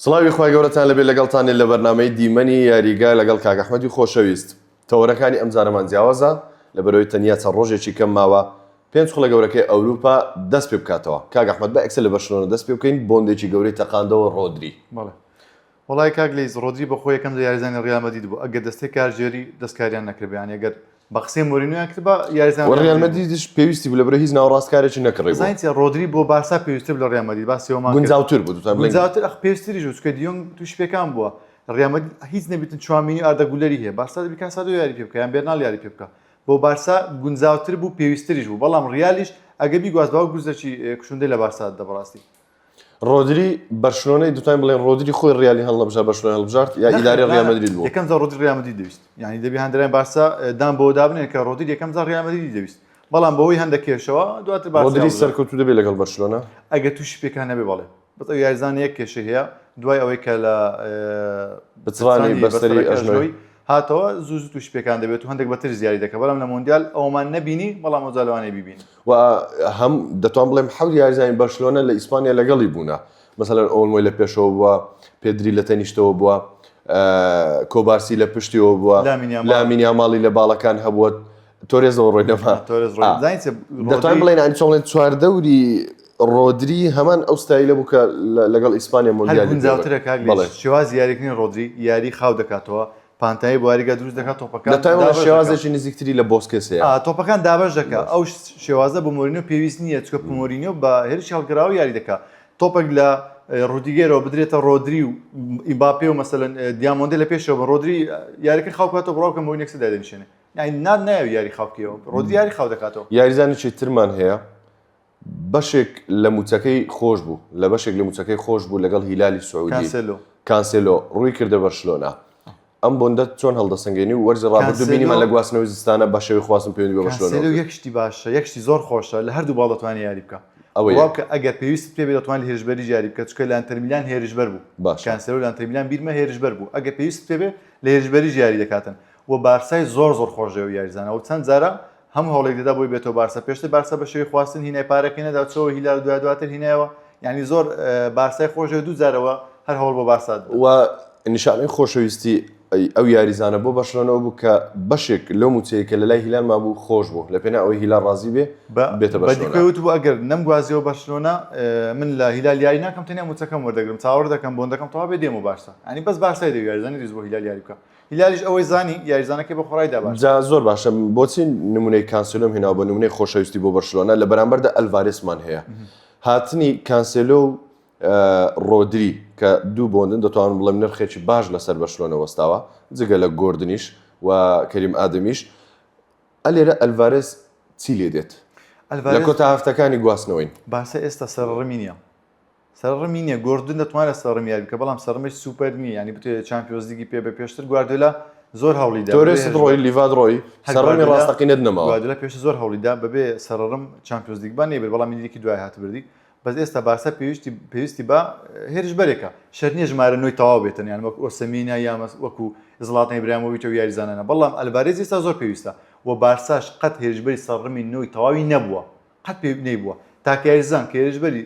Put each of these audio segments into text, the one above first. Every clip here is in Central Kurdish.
سڵاوی خوای گەورەتان لەبێت لەگەڵتانین لە بەرنامەی دیمەنی یاریگا لەگەڵ کاک ئەحمەدی خۆشەویست تەوەرەکانی ئەمجارەمان جیاوازە لەبەرئەوەی تەنیا چەند ڕۆژێکی کەم ماوە پێنج خولە گەورەکەی ئەوروپا دەست پێ بکاتەوە کاک ئەحمەد با ئێکسە لە بەرشلۆنە دەست پێ بکەین بۆندێکی گەورەی تەقاندەوە ڕۆدری بەڵێ وەڵای کاک لەیس ڕۆدری بەخۆی یەکەم جار یاریزانی ڕیال مەدرید بوو ئەگەر دەستەی کارگێری دەستکاریان نەکردبا یانی ئەگەر بە قسەی مۆرینۆیان کرد بە یاریزان و ڕیال مەدریدیش پێویستی بوو لەبەرە هیچ ناوەڕاستکارێکی نەکڕی بوو. زانیتە ڕۆدری بۆ بارسا پێویستتر لە ڕیال مەدرید باسی ئەومان کرد. گونجاوتر بوو دوتان بڵێن. گونجاوتر ئەخ پێویستتریش بوو چونکە دیۆنگ تووشی پێکان بووە. ڕیال مەدرید هیچ نەبێتن چوامینی و ئاردا گولەری هەیە بارسا دەبی کاسادۆ یاری پێ بکا یان بێرنال یاری پێ بکا. بۆ بارسا گونجاوتر بوو پێویستتریش بوو بەڵام ڕیالیش ئەگەر بیگواست باوک گورزەکی کوشندەی لە بارسا دەدا بەڕاستی. ڕۆدری بەرشلۆنەی دوتان بڵێن ڕۆدری خۆی ڕیالی هەڵنەبژار بەرشلۆنە هەڵبژارد یا ئیدارەی ڕیال مەدرید بوو یەکەم جار ڕۆدری ڕیال مەدرید دەویست یعنی دەبێ هەندێک بارسا دان بۆ دابنێن کە ڕۆدری یەکەم جار ڕیال مەدرید دەویست بەڵام بەوەی هەندە کێشەوە دواتر بارسا ڕۆدری هەڵبژارد. سەرکەوتوو دەبێت لەگەڵ بەرشلۆنە ئەگە تووشی پێکان نەبێ بەڵێ بەس ئەو یاریزانە یەک کێشەی هەیە دوای ئەوەی کە لە ئێ، بچڕانی سانی بەستەری بەستەرەکە ئەژنۆی ئەژنۆی. هاتەوە زوو زوو تووشی پێکان دەبێت و هەندێک بەتر زیادی دەکە بەڵام لە مۆندیال ئەومان نەبینی بەڵام ئەوجا لەوانەیە بیبینی و هەم دەتوان بڵێم حەوت یاریزانی بەرشلۆنە لە ئیسپانیا لەگەڵی بوونە مەسەلەن ئۆڵمۆی لە پێشەوە بووە پێدری لە تەنیشتەوە بووە کۆبارسی لە پشتیەوە بووە لامینیا ماڵی لە باڵەکان هەبووە تۆرێزەوە ڕۆی نەما دەتوان بڵێن ئەنی چۆڵێن چواردەوری ڕۆدری هەمان ئەو ستایلە بوو کە لەگەڵ ئیسپانیا مۆندیالی شێواز یاریکردنی ڕۆدری یاری خاو دەکاتەوە پانتایی بواریگا دروست دەکات تۆپەکان شێوازێکی نزیکتری لە بۆسکێس تۆپەکان دابش دەکات ئەو شێوازە بۆ مۆرینۆ پێویست نییە چکە پمۆرینۆ بە هێرش هەڵگراوە یاری دەکات تۆپەک لە ڕودیگەرەوە بدرێتە ڕۆدری و ئیمباپێ و مەسەن دیامۆندی لە پێشەوە بە ڕۆدری یاریکە خاوکاتەوە بڕاوکە بۆ نێکسدا دەنیشێنێ نان نایە یاری خاوکیەوە ڕۆدری یاری خاو دەکاتەوە یاریزانانی چی ترمان هەیە بەشێک لە مووچەکەی خۆش بوو لە بەشێک لە مووچەکەی خۆش بوو لەگەڵ هیلالی سعودی کانسێلۆ کانسێلۆ ڕووی کردە بەرشلۆنە ئەم بۆندە چۆن هەڵدەسەنگێنی و وەرزی ڕابردوو بینیمان کانسێلۆ- لە گواستنەوەی زستانە بە شێوەی خواستن پەیوەندی بە بەرشلۆنەوە کانسێلۆ کرد یەک شتی باشە یەک شتی زۆر خۆشە لە هەردوو باڵ دەتوانێت یاری بکا ئەوە یەک. بڵاو کە ئەگەر پێویستت پێ بێت دەتوانێت هێرشبەریش یاری بکە چونکە لە ئەنتەرمیلان هێرشبەر بوو باشە. کانسێلۆ لە ئەنتەرمیلان بیرمە هێرشبەر بوو ئەگەر پێویستت پێ بێت لە هێرشبەریش یاری دەکاتن و بارسای زۆر زۆر خۆش دەوێت یاریزانە و چەند جارە هەموو هەوڵێک دەدا بۆی بێتەوە بارسا پێشتر بارسا بە شێوی خواستن هینای پارەکەی نەدا چۆوە هیلال دوای دواتر هینایەوە یعنی زۆر بارسای خۆشێ دوو جارەوە هەر هەوڵ بۆ بارسا و نیشانەی خۆشەویستی ئەو یاریزانە بۆ بەشلۆنەوە بوو کە بەشێک لەو موچەیە کە لە لای هیلال مابوو خۆش بوو لە پێنا ئەوەی هیلا ڕازی بێ بێتە بەدیکەوت بوو ئەگەر نەم گوازیەوە بەشلۆنە من لە هیلال یاری ناکەم تەنیا موچەکەم وەردەگرم چاوەڕ دەکەم بۆن دەکەم تەوا بێ دێمە بارسا ئەنی بەس بارسای دەویارزانانی ریز بۆ هیلال یاری بکە هیلالیش ئەوەی زانی یاریزانەکەی بۆ خۆڕای دابا جا زۆر باشە بۆچی نمونەی کانسلۆم هێناوە بە نمونەی خۆشەویستی بۆ بەرشلۆنە لە بەرامبەردا ئەلڤارێسمان هەیە هاتنی کانسلۆ و ڕۆدری کە دوو بۆندن دەتوانم بڵێم نرخێکی باش لەسەر بەرشلۆنە وەستاوە جگە لە گردنیش و کەریم ئادەمیش ئەلێرە ئەلڤارێس چی لێ دێت لە کۆتا هەفتەکانی گواستنەوەین باسە ئێستا سەرڕمی نیە سەرڕمی نیە گۆردن دەتوانێت سەرڕم یاری بکە بەڵام سەرڕمێک سوپەر نیە ینی بتوێت چامپیۆنز لیگی پێ بە پێشتر گواردیۆلا زۆر هەوڵی دا تۆرێس ڕۆی لیڤاد ڕۆی هەر سەرڕمی گواردیۆلا- ڕاستەقینەت نەماوە گواردیۆلا پێشتر زۆر هەوڵی دا بەبێ سەرڕم چامپیۆنز لیگ با نەیبرد بەڵام یەکێکی دوای هات بردی بەس ئێستا بارسا پێویستی پێویستی بە هێرشبەرێکە شەرت نیە ژمارە نۆی تەواو بێتن یان وەک ئۆسمینا یا مەس وەکو زڵاتان ئیبراهیمۆڤیچ و یاریزانانە بەڵام ئەلڤارێز ئێستا زۆر پێویستە و بارساش قەت هێرشبەری سەرڕمی نۆی تەواوی نەبووە قەت پێ نەیبووە تاکە یاریزان کە هێرشبەری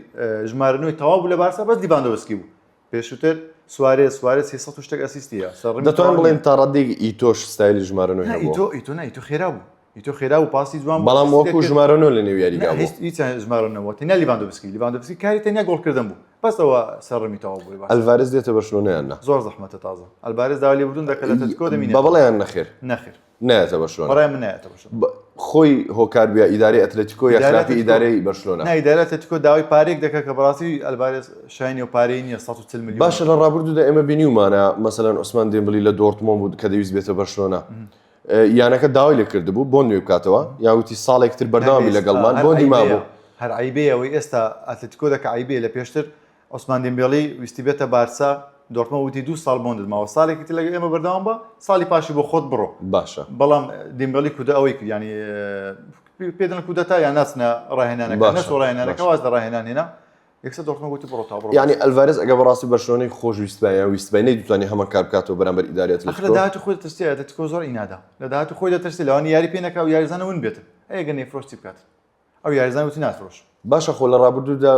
ژمارە نوێی تەواو بوو لە بارسا بەس لیڤاندۆوسکی بوو پێشووتر سوارێ سوارێ سی سەد و شتێک ئەسیستیە سەڕ دەتوان بڵێن تا ڕادێک ئیتۆش ستایلی ژمارە نوێ هەبوو. ئیتۆ ئیتۆ نه ئیتۆ خێرا بوو ئیتۆ خێرا و پاسی جوان بوو، بەڵام وەکو ژمارە نۆ لە نێو یاریگا بوو. هیچ هیچ ژمارە نەوە تەنیا لیڤاندۆوسکی لیڤاندۆوسکی کاری تەنیا گۆڵکردن بوو بەسەوە سەرڕمی تەواو بووی بارسا ئەلڤارێز دێتە بەرشلۆنە یان نا؟ زۆر زەحمەتە تازە ئەلڤارێز داوای لێبوردن دەکات لە ئەتلتیکۆ دەمینێت بە بەڵێ یان نەخێر؟ نەخێر نایەتە بەرشلۆنە بەڕای من نایەتە بەرشلۆنە ب- خۆی هۆکار بیا ئیدارەی ئەتلەتیکۆ یا ئیدارەی خراپی ئەتلەتیکۆ. ئیدارەی بەرشلۆنە نای دایرە تەتیکۆ داوای پارێک دەکات کە بەڕاستی ئەلبارێس شایانی و پارەی نییە 140 میلیۆن باشە لە ڕابردوودا ئێمە بینیومانە مەسەلەن عوسمان دێمبلی لە دۆرتمۆن بوو کە دەویست بێتە بەرشلۆنە یانەکە داوای لێ کردبوو بۆ نوێ بکاتەوە یا وتی ساڵێک تر بەردەوامی لەگەڵمان بۆندی مابوو هەر عیبەیە ئەوەی ئێستا ئەتلتیکۆ دەکە عیبەیە لە پێشتر عوسمان دیمبێڵی ویستی بێتە بارسا، دۆرتمۆند وتی دوو ساڵ بۆندت ماوە، ساڵێکی تر لەگەڵ ئێمە بەردەوام بە، ساڵی پاشی بۆ خۆت بڕۆ. باشە. بەڵام دیمبێڵی کودە ئەوەی کرد یانی پێ دەڵێن کودەتا یان ناچنە ڕاهێنانەکە، باشە. نەچوو ڕاهێنانەکە واز لە ڕاهێنان هێنا، یەکسەر دۆرتمۆند وتی بڕۆ تا بڕۆ. یانی ئەلڤارێز ئەگەر بەڕاستی بەرشلۆنەی خۆش ویستبایە یان ویستبای نەیدوتانی هەمان کار بکاتەوە بەرامبەر ئیدارەی ئەتلەتیکۆ؟ ئەخ لە داهاتووی خۆی دەترسێ، ئەتلەتیکۆ زۆر ئینادە، لە داهاتووی خۆی دەترسێ، لەوانەیە یاری پێ نەکا و یاریزانە ون بێتن، ئەی ئەگەر نەیفرۆشت چی بکاتن؟ ئەو یاریزان وتی ناترۆش. باشە خۆ لە ڕابردوودا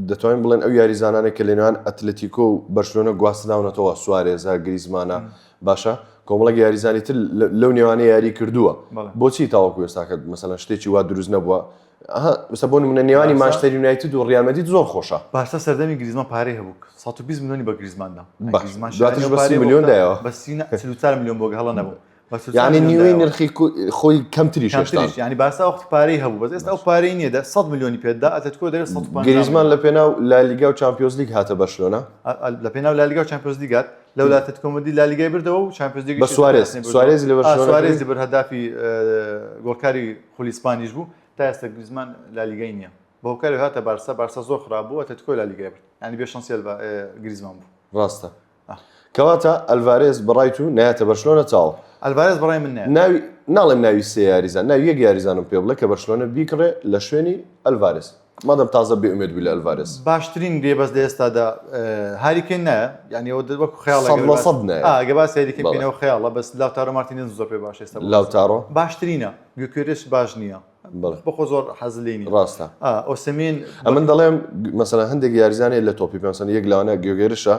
دەتوانین بڵێن ئەو یاریزانانێک کە لەنێوان ئەتلەتیکۆ و بەرشلۆنە گواستراونەتەوە سوارێزە، گریزمانە باشە کۆمەڵێک یاریزانی تر لەو نێوانە یاری کردووە بۆچی تاوەکو ئێستاکە مەسەلەن شتێکی وا دروست نەبووە ئەسە بۆ منە نێوانی ماشتەر یونایتد و ڕیامەدید زۆر خۆشە باشە سەردەمی گریزمان پارەی هەبوو 120 میلیۆنی بە گریزماندا میلیۆن دایەوە بە 34 میلیۆن بۆ هەڵە نەبوو یعنی نیوەی نرخی خۆی کەمتریش ینی باسا وەختی پارەی هەبوو بەس ئێستا ئەو پارەی نیە دە 100 میلیۆنی پێدا ئەتەتکۆ دەێت گریزمان لە پێناو لالیگا و چمپیۆز لیگ هاتە بەشلۆنە لە پێناو لالیگا و چمپیۆز لیگات لەو لاتت کۆمەدی لالیگای بردەوە و چمپیۆز لیگ سوارێز سوارێزی لە سوارێزی بر هەدافی گۆڵکاری خولیسپانیش بوو تا ئێستا گریزمان لالیگای نییە بەوکاری هاتە بارسا بارسا زۆر خرابوو ئەتەتکۆ لالیگای برد ینی بێ شەنسیل گریزمان بوو ڕاستە کەواتە ئەلڤارێز بەڕای تو نایەتە بەرشلۆنە چاوە؟ ئەلڤارێز بەڕای من نایەت. ناوی ناڵێم ناوی سێ یاریزان ناوی یەک یاریزانم پێ بڵێ کە بەرشلۆنە بیکڕێ لە شوێنی ئەلڤارێز مادەم تازە بێ ئومێد بووی لە ئەلڤارێز. باشترین گرێبەست لە ئێستادا هاری کەین نایە یانی ئەوە دەر وەکو خەیاڵە سەد لە سەد نایە. ئا ئەگەر باسی هاری کەین بەڵێ. بکەینەوە خەیاڵە بەس لاوتارۆ مارتینێزم زۆر پێ باشە ئێستا بۆ بارسا. لاوتارۆ؟ باشترینە گیوکێرێش باش نییە. بەخۆ زۆر حەز لێ ڕاستە ئۆسمین ئەمن دەڵێم مەسەلا هەندێک یاریزانێت لە تۆپی پێسەن یەک لاوانە گوێگەرشە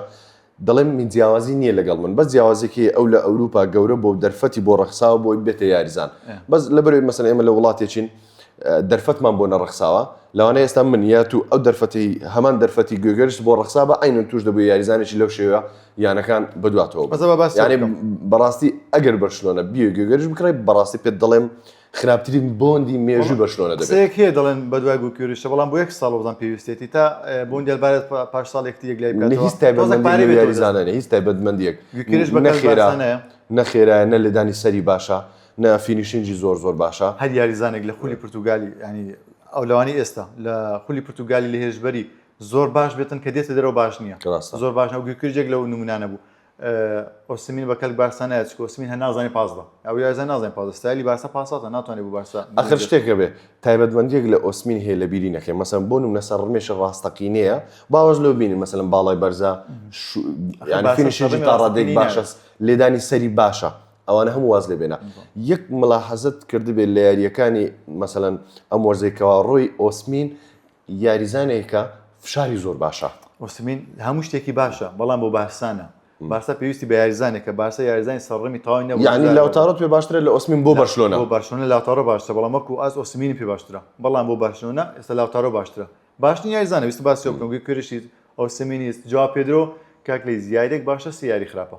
دەڵێم من جیاوازی نییە لەگەڵ من بە جیاوازێکی ئەو لە ئەوروپا گەورە بۆ دەرفەتی بۆ ڕەخساوە بۆی بێتە یاریزان بەس لە بەرەوەی مەسەن ئێمە لە وڵاتێکین دەرفەتمان بۆ نەڕخساوە لەوانە ئێستا من یا تو ئەو دەرفەتی هەمان دەرفەتی گوێگەرش بۆ ڕخسا بە ئاین توش دەبوو یاریزانێکی لەو شێوە یانەکان بدواتەوە بەزەباستی بەڕاستی ئەگەر بەرشلۆنە بیێ گوێگەرش بکڕی بەڕاستی پێت دەڵێم خراپترین بۆندی مێژوو بەرشلۆنە دەبێت. قسەیەک هەیە دەڵێن بەدوای گۆکیۆریشە، بەڵام بۆ یەک ساڵ بەڵام پێویستێتی تا بۆندی ئەلڤارێز پاش ساڵ یەکتری یەکلای بکات. نە هیچ تایبەتمەندییەک بۆ یاریزانە نییە، هیچ تایبەتمەندییەک. گۆکیۆریش بە کەس باسە نەیە. نە خێرایە، نە لێدانی سەری باشە، نە فینیشینگی زۆر زۆر باشە. هەر یاریزانێک لە خولی پورتوگالی یانی ئەو لەوانەیە ئێستا لە خولی پورتوگالی لە هێرشبەری زۆر باش بێتن کە دێتە دەرەوە باش نییە. ڕاستە. زۆر باش نییە و گۆکیۆریش یەک لەو نموونانە بوو. ئۆسیمین بە کەلک بارسا نایەت چکە ئۆسیمین هەر نازانێ پاس بە ئەو یاریزان نازانێ پاس بە ستایلی بارسا پاس واتە ناتوانێ بۆ بارسا ئاخر شتێک هەبێ تایبەتمەندییەک لە ئۆسیمین هەیە لە بیری نەکەین مەسەلەن بۆ نمونە سەرڕمێشی ڕاستەقینەیە باوەش لەوە بینین مەسەلەن باڵای بەرزە یانی فینیشێکی تا ڕادێک باشە لێدانی سەری باشە ئەوانە هەموو واز لێ بێنە یەک ملاحەزەت کردبێت لە یارییەکانی مەسەلەن ئەم وەرزەی کەوا ڕۆی ئۆسمین یاریزانێکە فشاری زۆر باشە. ئۆسیمین هەموو شتێکی باشە، بەڵام بۆ بارسا نا. بارسا پێویستی بە یاریزانێکە، بارسا یاریزانی سەرڕمی تەواوی نەبوو. یانی لاوتارۆت پێ باشترە لە ئۆسیمین بۆ بەرشلۆنە؟ بۆ بەرشلۆنە لاوتارۆ باشترە، بەڵام وەکو ئاست ئۆسیمینم پێ باشترە، بەڵام بۆ بەرشلۆنە ئێستا لاوتارۆ باشترە. باشترین یاریزانە، ویستم باسی ئەو بکەم، گویکرێشیت، ئۆسیمینیت، جواو پێدرۆ، کاک لەیز یارییەک باشە سێ یاری خراپە.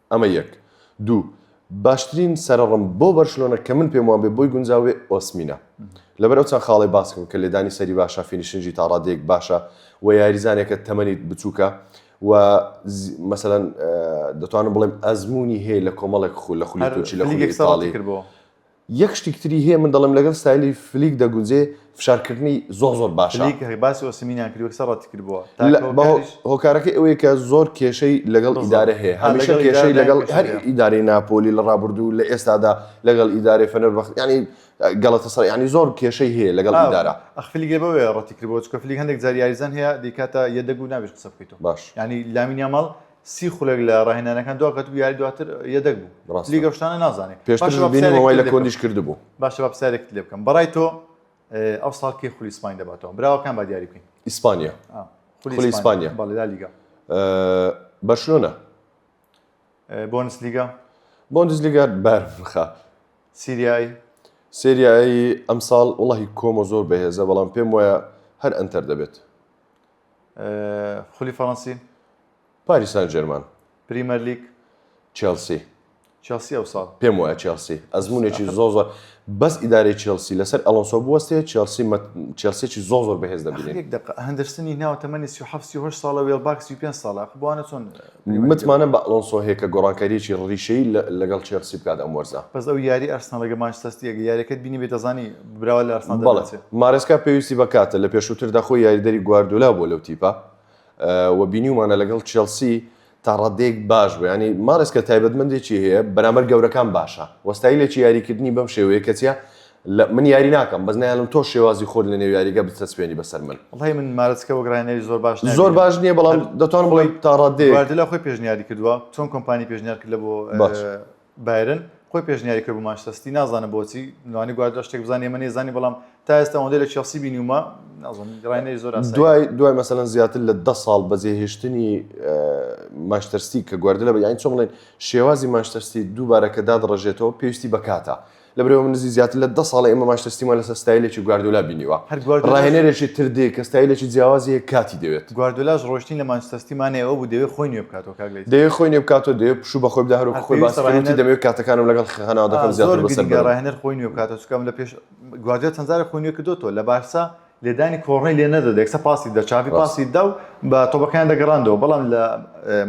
ئەمە یەک. دوو، باشترین سەرەڕم بۆ بەرشلۆنە کە من پێم وابێ بۆی گونجاو بێ ئۆسمینە. لەبەر ئەو چەند خاڵەی باس کرد کە لێدانی سەری باشە، فینیشنگی تا ڕادەیەک باشە و یاریزانێکە تەمەنی بچووکە و مەسەلەن دەتوانم بڵێم ئەزموونی هەیە لە کۆمەڵێک خول لە خولی تورکی لە خولی ئیتاڵی. یەک شتیک تری هەیە من دەڵێم لەگەڵ ستایلی فلیک دەگونجێ فشارکردنی زۆر زۆر باشە فلیک هەی باسی ئۆسیمینیان کرد وەکسە ڕەتی کردبووە هۆکارەکەی ئەوەیە کە زۆر کێشەی لەگەڵ ئیدارە هەیە هەمیشە کێشەی لەگەڵ هەر ئیدارەی ناپۆلی لە ڕابردوو لە ئێستادا لەگەڵ ئیدارەی فەنەر بەخت ینی گەڵەتە سەر ینی زۆر کێشەی هەیە لەگەڵ ئیدارە ئەخفلیگە بەوێ ڕەتی کردبووە چکە فلیک هەندێک جاریاریزان هەیە دیکاتە یەدەگو نابێت قسە بکەیتەوە باش ینی لامینیا ماڵ سی خولەک لە ڕاهێنانەکان دواکەوت بوو یاری دواتر یەدەگ بوو ڕاستە. لیگە شتانە نازانێت پێشتر باشە با بینی پرسیارێکت وای لە لێ بکەم. کۆندیش کردبوو باشە با پرسیارێکت لێ بکەم بەڕای تۆ اه، ئەو ساڵ کێ خولی سپاین دەباتەوە براوەکان با دیاری بکەین ئیسپانیا آه. خولی ئیسپانیا. بەڵێ لا لیگا آه، بەرشلۆنە اه، بۆنس لیگا بۆندزلیگا بار بخە سیریایی سریایی ئەمساڵ وڵی کۆمۆ زۆر بەهێزە بەڵام پێم وایە هەر ئەنتەر دەبێت خولی فەڕەنسی پاریس سان جێرمان پریمەر لیگ چێلسی چێلسی ئەو ساڵ پێم وایە چێلسی ئەزمونێکی زۆ زۆر بەس ئیدارەی چێلسی لەسەر ئەلۆنسۆ بوەستێ چێلسی چێلسێکی زۆ زۆر بەهێز دەبێت هەندرسنی ناو تەمەنی سی هەفسی هۆش ساڵە وێڵباکسی پێ ساڵە بوانە چۆن متمانەم بە ئەلۆنسۆ هەیە کە گۆڕانکارییەکی ڕیشەیی لەگەڵ چێڵسی بکات ئەم وەرزە. بەس ئەو یاری ئارسناڵ لەگەڵ مانچستەر ستی ئەگەر یاریەکەت بینیبێت دەزانی براوە لە ئارسناڵ دەناسێت. بەڵێ مارێسکا پێویستی بە کاتە لە پێشووتردا خۆی یاریدەری گواردیۆلا بووە لەو تیپە و بینیومانە لەگەڵ چێڵسی تا ڕادەیەک باش بوو یانی مارێسکا تایبەتمەندێکی هەیە بەرامبەر گەورەکان باشە و ستایلێکی یاریکردنی بەم شێوەیە کەچیە لە من یاری ناکەم بەس نایڵم تۆ شێوازی خۆت لە نێو یاریگە بچەسپێنی بەسەر من وڵی من مارەچکە وەک ڕانێری زۆر باش نابینم. زۆر باش نییە بەڵام دەتوانم بڵێم تا ڕادێ گواردیلا خۆی پێشنیاری کردووە چۆن کۆمپانی پێشنیار کرد لە بۆ باش. اه، بایرن خۆی پێشنیاری کرد بۆ مانچستەر سیتی نازانم بۆچی لەوانی گواردیلا شتێک بزانێ ئێمە نەیزانی بەڵام تا ئێستا ئەوەندەی لە چێڵسی بینیومە نازانم ڕانێری زۆر ئاسایی دوای دوای مەسەن زیاتر لە دە ساڵ بەجێهێشتنی ماشتەرسی کە گواردلە بە یانی چۆن بڵێن شێوازی ماشتەرسی دووبارە کە دادڕژێتەوە پێویستی بە کاتە لە بەرەی ئەوە نزیک زیاتر لە دە ساڵە ئێمە مانچستەر سیتیمان لەسەر ستایلێکی گواردیۆلا بینیوە، هەر گواردیۆلاش راهێنەرێکی تر دێ کە ستایلێکی جیاوازی هەیە کاتی دەوێت. گواردیۆلاش رۆیشتنی لە مانچستەر سیتی مانای ئەوە بوو دەیەوێت خۆی نوێ بکاتەوە کاک لەیث. دەیەوێت خۆی نوێ بکاتەوە، دەیەوێت پشوو بە خۆی بدا، هەروەکو خۆی باس کرد وتی دەمەوێت کاتەکانم لەگەڵ خانەوادەکەم زیاتر بەسەر بەرم. زۆر گرنگە راهێنەر خۆی نوێ بکاتەوە، چونکە لە پێش گواردیۆلا چەند جارێک خۆی نوێ کردۆتەوە، لە بارسا لێدانی کۆڕنەی لێ نەدەدا یەکسەر پاسی دەدا، چافی پاسی دەدا و بە تۆپەکەیان دەگەڕاندەوە، بەڵام لە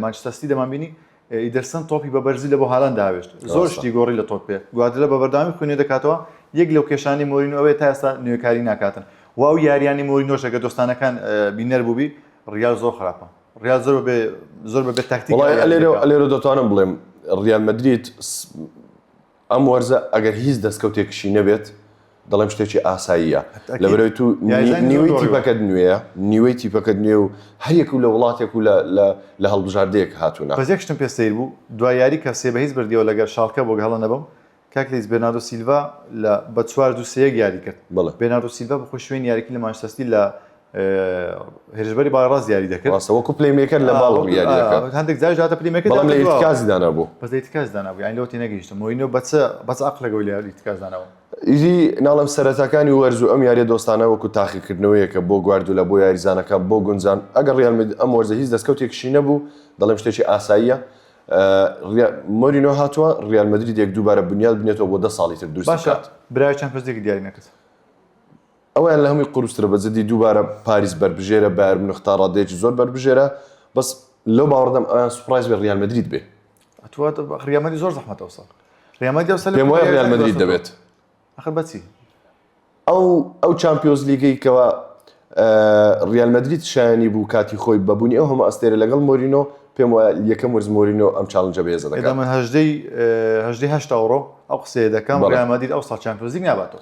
مانچستەر سیتی دەمانبینی ئیدرسن تۆپی بە بەرزی لە بۆ هالاند داوێشت، زۆر شتی گۆڕی لە تۆپێ، گواردیۆلا بە بەردەوامی خۆی نوێ دەکاتەوە، یەک لەو کێشانەی مۆرینۆ ئەوەیە تا ئێستا نوێکاری ناکاتن و ئەو یارییانەی مۆرینۆش ئەگەر دۆستانەکان بینەر بووبی ڕیال زۆر خراپە، ڕیال زۆر بەبێ زۆر بەبێ تاکتیک یاری دەکا. وەڵای لێرە لێرە دەتوانم بڵێم ڕیال مەدرید ئەم وەرزە ئەگەر هیچ دەستکەوتێکشی نەبێت، دەڵێم شتێکی ئاساییە، لەبەرئەوەی تو نیوەی تیپەکەت نوێیە، نیوەی تیپەکەت نوێ و هەریەکو لە وڵاتێک و لە هەڵبژاردەیەک هاتوونە. بەس یەک شتم پێ سەیر بوو، دوای یاری کە سێ بە هیچ بردیەوە لەگەر شاڵکە بۆ هەڵە نەبم، کاک لەیس بێرناردۆ سیلڤا لە بە چوار دوو سێ یەک یاری کرد، بێرناردۆ سیلڤا بە خۆی شوێنی یاریکردنی لە مانچستەر سیتی لە هێرشبەری باڕاست یاری دەکرد ڕاستە وەکو پلەیمێکەر لە باڵ ڕووی یاری دەکرد آه، هەندێک جاریش هاتە پلەیمێکەر بەڵام لە دەکرد و- ئیرتکازی دانابوو بەس لە ئیتکاز دانابوو یانی لەوە تێنەگەیشتم مۆینۆ بەچ بەچ عەقلەگەوە لە ئیتکاز داناوە ئیدی ناڵێم سەرەتاکانی وەرز و ئەم یاریە دۆستانە وەکو تاقیکردنەوەیەکە بۆ گواردولا بۆ یاریزانەکان بۆ گونجان ئەگەر ڕیال مەدرید ئەم وەرزە هیچ دەستکەوتێکشی نەبوو دەڵێم شتێکی ئاساییە آه، ریا- مۆرینۆ هاتووە ڕیال مەدریدێک دووبارە بنیاد بنێتەوە بۆ دە ساڵی تر دروستی باشە بکات برای چەند پرسێکی دیاری نەکرد ئەوەیان لە هەمووی قورسترە بەجدی دووبارە پاریس بەربژێرە بایەر مونخ تا ڕادەیەکی زۆر بەربژێرە بەس لەو باوەڕدام ئەویان سوپڕایز بێ ڕیال مەدرید بێ ئەتوە ڕیال مەدرید زۆر زەحمەتە ئەوساڵ ڕیال مەدرید ئەوساڵ پێم وایە ڕیال مەدرید دەبێت ئەخر بەچی ئەو ئەو چامپیۆنز لیگەی کەوا ڕیال مەدرید شایانی بوو کاتی خۆی بەبوونی ئەو هەموو ئەستێرە لەگەڵ مۆرینۆ پێم وایە یەکەم وەرز مۆرینۆ ئەم چاڵنجە بێزە دەکەم من هەژدەی هەژدەی هەشتا ئەوڕۆ ئەو قسەیە دەکەم ڕیال مەدرید ئەوساڵ چامپیۆنز لیگ ناباتەوە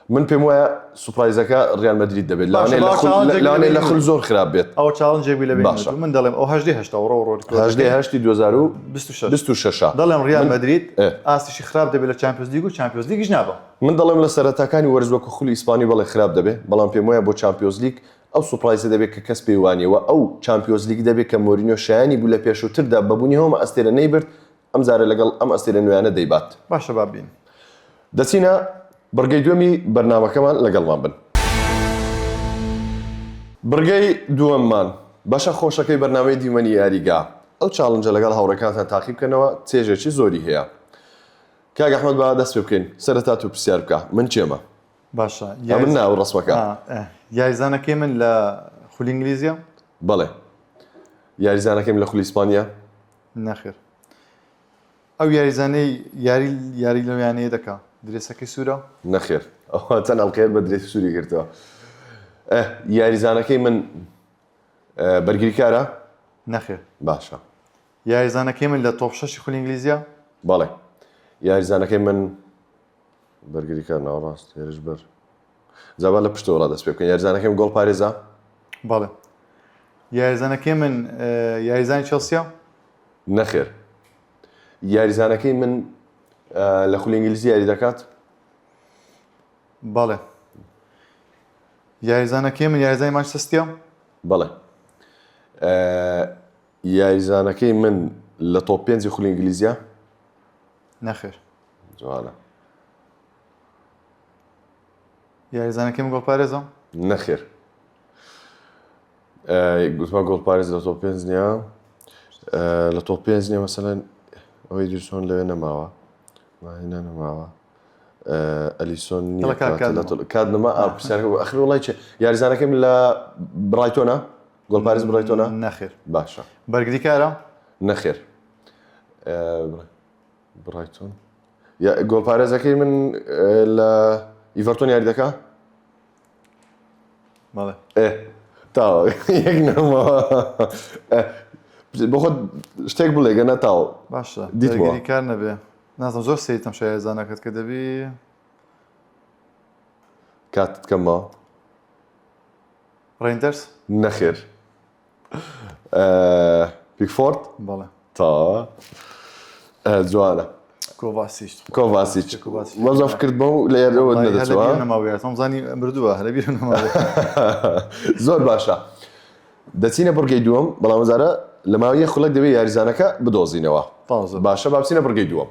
من پێم وایە سوپایزەکە ڕیان مەدرید دەبێت لاێ لە خل زۆر خراپ بێت ئەو چاڵنجێک لە باش من دەڵێم ئەو هەشتی هشتا ڕۆ ڕۆهشتی 2026 دەڵێم ڕیان مەدرید ئاستیشی خراپ دەبێت لە چمپیۆز لیگ و چمپیۆز لیگیش نابم من دەڵێم لە سەرەتاکانی وەرزوەکە خولی ئیسپانی بەڵێ خراپ دەبێت بەڵام پێم وایە بۆ چمپیۆز لیگ ئەو سوپایزە دەبێت کە کەس پێیوانەوە ئەو چمپیۆز لیگ دەبێت کە مۆرینۆ شایانی بوو لە پێشووتردا بەبوونی هەوم ئەستێرە نەیبرد ئەم جارە لەگەڵ ئەم ئەستێرە نوێیانە دەیبات باشە با بین دەچینە بڕگەی دوێمی بەرنمەکەمان لەگەڵمان بن بڕگەی دووەممان بەشە خۆشەکەی بەرنمەی دیمەنی یاریگا ئەو چاڵنجە لەگەڵ هاوڕێکانتان تاقی بکەنەوە چێژێکی زۆری هەیە کاک ئەحمد با دەست پێ بکەین سەرەتا تو پرسیار بکە من کێمە باشە یا من ناو ڕسمەکە یاریزانەکەی من لە خولی ئینگلیزیە بەڵێ یاریزانەکەیم لە خولی ئیسپانیا نەخێر ئەو یاریزانەی یاری یاری لەو یانەیە دەکا درێسەکەی سوورە نەخێر ئەوە چەند ئەڵقەیە بە درێسی سووری گرتەوە ئەه، یاریزانەکەی من ئەه، بەرگریکارە نەخێر باشە یاریزانەکەی من لە تۆپ شەشی خولی ئینگلیزیە بەڵێ یاریزانەکەی من بەرگریکار ناوەڕاست هێرشبەر جا با لە پشتەوە ڕادەست پێ بکەین یاریزانەکەم گۆڵ پارێزە بەڵێ یاریزانەکەی من یاریزانی چەسیە نەخێر یاریزانەکەی من لە خولی ئینگلیزی یاری دەکات بەڵێ یاریزانەکەی من یاریزای ماچەستە بەڵێ یاریزانەکەی من لە تۆپ پێنجی خولی ئینگلیزیە نەخێر جوانە یاریزانەکەم گۆڵپارێزە؟ نەخێر گوتما گۆڵپارێز لە تۆ پێنج نیە لە تۆ پێنج نیە مەسەەن ئەوەی دیرسۆن لەوێ نەماوە ماهێنا نەماوە ئەلیسۆن کات نما ئەخر وڵی چێ یاریزانەکەم لە بڕایتۆنا گۆڵپارێز بڕایتۆنا نەخێر باشە بەرگریکارە نەخێر برایتۆن یا گۆڵپارێزەکەی من لە ئیڤەرتۆن یاری دەکا تاوە بەخۆ شتێک بڵێ گە نەتاو باشە دیتگەری کار نەبێ نازم زۆر سیتم شایزانەکەت کە دەبی کاتت کەمەوە ڕێندەرس نەخێر پیکفۆرد بەڵێ تەواوە آه، جوانە کۆڤاسیش کۆڤاسیچ وەزەف کرد بەو لە یادەوە نەدەچوە نەماویاتم زانی مردووە هەلە بیر نەما زۆر باشە دەچینە بڕگەی دووەم بەڵام زارە لە ماویە خولەک دەبێت یاریزانەکە بدۆزینەوە تازە باشە بابچینە بڕگەی دووەم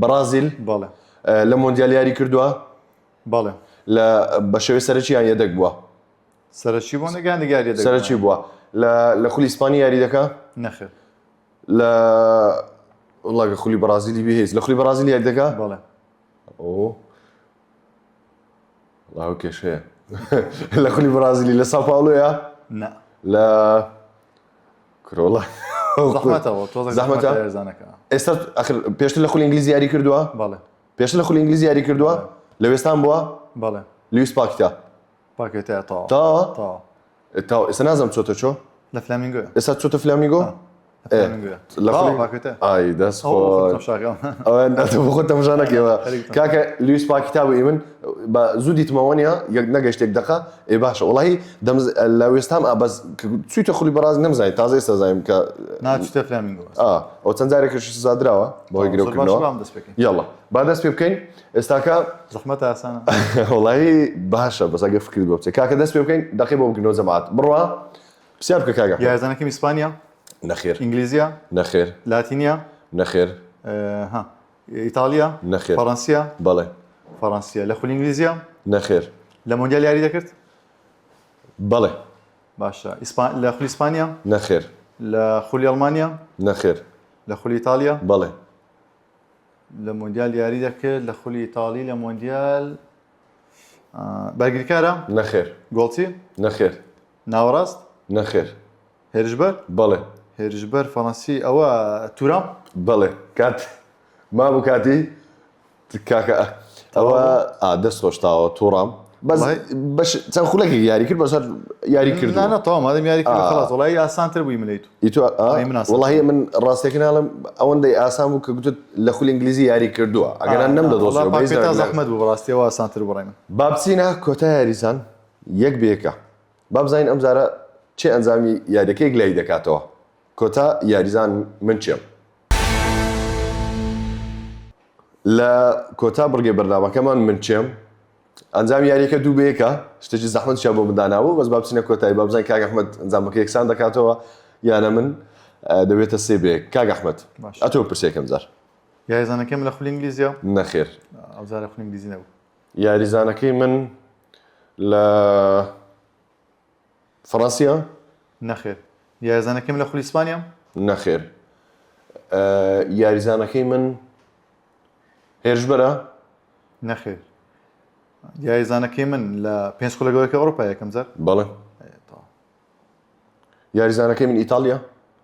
بەڕازیل بەڵێ لە مۆندیال یاری کردووە بەڵێ لە بە شێوەی سەرەکییان یەدەگ بووە سەرەکی بۆ نگەیان دیگاری دەگەن. سەرەکی بووە لە- لە خولی ئیسپانی یاری دەکا نەخێر لە وڵاگە خولی بەڕازیلی بهێز لە خولی بەڕازیل یاری دەکا بەڵێ ئەو وڵا ئەو کێشەیە لە خولی بڕازیلی لە ساپاڵۆیە نا لە کرۆڵە زەحمەتەوە تۆزە زەحمەتە؟ زەحمەتە هێرزانەکە ئێستا ئەخر پێشتر لە خولی ئینگلیزی یاری کردووە بەڵێ پێشتر لە خولی ئینگلیزی یاری کردووە لە وێستان بووە بەڵێ لویس پاکتا پاکێ تا تا تا تا تا ئێستا نازم چۆتە چۆ لە فلامینگۆ ئێستا چۆتە فلامیگۆ خۆ تەمژانەکەەوە کاکە لویس پاکی تا بووی من بە زوو دیتمەوە نیە یەک نەگەشتێک دقە ئێ باشە وڵی دەم لە وێستام ئابەس چیتە خولی بەڕاز نەمزای تازای سەزایم کە ناچتە فلامینگۆ ئەو چەند جارێکش سزادراوە بەهۆی گرەوە یاڵە با دەست پێ بکەین ئێستاکە زەحمەتە ئاسانە وەڵایی باشە بەس ئەگەر فکرت بۆ بچێت کاکە دەست پێ بکەین دەقی بۆ بگرنەوە جەماعەت بڕوا پرسیار بکە کاکە یارزانەکەم ئیسپانیا نەخێر ئینگلیزیە نەخێر لاتینیا نەخێر ئه، ها ئیتاڵیا نەخێر. فەڕەنسیا بەڵێ فەڕەنسیا لە خولی ئینگلیزیە نەخێر لە مۆندیال یاری دەکرد بەڵێ باشە ئیسپان لە خولی ئیسپانیا نەخێر لە خولی ئەڵمانیا نەخێر لە خولی ئیتاڵیا بەڵێ لە مۆندیال یاری دەکرد لە خولی ئیتاڵی لە مۆندیال آه، بەرگریکارە نەخێر گۆڵچی نەخێر ناوەڕاست نەخێر هێرشبەر بەڵێ هێرشبەر فەڕەنسی ئەوە تورام بەڵێ کات مابوو کاتی کاکە ئەوە ئا، دەست خۆشتاوە تۆڕام بەس وڵای. بەش چەند خولەکێک یاری کرد بەسەر یاری کردو نانە تەواو مادەم یاری کرد آه. خلاص وڵی ئاسانتر بووی ملەی تو ئیتۆ ئا ئەی مناسبە. وەڵاهی من ڕاستەکەی ناڵێم ئەوەندەی ئاسان بوو کە گوتت لە خولی ئینگلیزی یاری کردووە ئەگەر نا نەمدەدۆزیەوە وەڵا بەهیچ پاکێتا دەرەک نەبێ. زەحمەت بوو بەڕاستی ئەوە ئاسانتر بوو بەڕای من. با بچینە کۆتا یاریزان یەک بە یەکە با بزانین ئەمجارە کێ ئەنجامی یاریەکە یەکلایی دەکاتەوە کۆتا یاریزان من کێم؟ لە کۆتا بڕگەی بەرنامەکەمان من کێم؟ ئەنجامی یاریەکە دوو بەیەکە شتێکی زەحمت چیا بۆ مندانابوو بەس بابچینە کۆتایی بابزان کاک ئەحمد ئەنجامەکە یەکسان دەکاتەوە یانە من دەبێتە سێ بێک کاک ئەحمد ئەتۆ پرسێکم جار یاریزانەکەم لە خولی ئینگلیزیە نەخێر ئەوزارە خولی ئینگلیزی نەبوو یاریزانەکەی من لە فەڕەنسیە؟ نەخێر یارزانەکەی من لە خولی ئیسپانیام؟ نەخێر یاریزانەکەی من هێرشبەرە؟ نەخێر یاریزانەکەی من لە پێنج خولە گەورەکە ئەوروپا یەکەم جار؟ بەڵێ یاریزانەکەی من ئیتاڵیە؟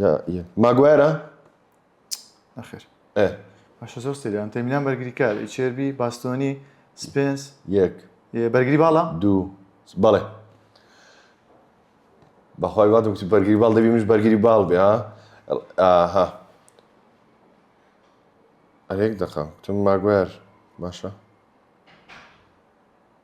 یا یە ماگوایرە نەخێر ئێ باشە زۆر سریان تەمینان بەرگری کار چێربی باستۆنی سپێنس یەک بەرگری باڵا دوو بەڵێ بەخوای وات وتی بەرگری باڵ دەبی منش بەرگری باڵ بێ ها ئاها ئەرێک دەقە تم ماگوێر باشە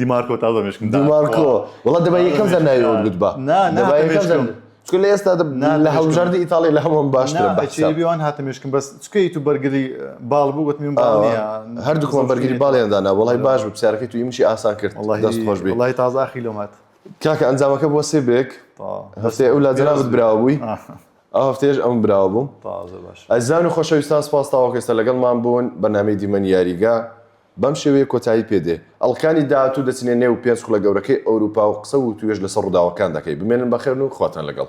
دیمارکۆ تازە مشکم دیمارکۆ وڵات دەبای یەکەم زەر ناوی ئەوت بتبا چکە لە ئێستا لە هەڵبژاردی ئیتاڵی لە هەمووم باشتر بیوان هاتە مشکم بەس چکەی تو بەرگری باڵ بوو وتمیم هەردووکمان بەرگری باڵیاندانا وڵی باش بە پرسیارەکەی تو ئیمشی ئاسان کرد دەست خۆش بێ وڵی تازاخی لۆمات کاکە ئەنجامەکە بۆ سێ بێک هەسێ ئەو لا جەنابت براوە بووی ئەو هەفتێش ئەم براوە بووم ئەزان و خۆشەویستان سپاس تاوەکەێستا لەگەڵمان بوون بەنامەی دیمەنی یاریگە بەم شێوەیە کۆتایی پێ دێ ئەڵقەکانی داهاتوو دەچنە نێو پێنج خوڵە گەورەکەی ئەوروپا و قسە و وتووێژ لەسەر ڕووداوەکان دەکەی بمێنن بەخێرن و خواتان لەگەڵ.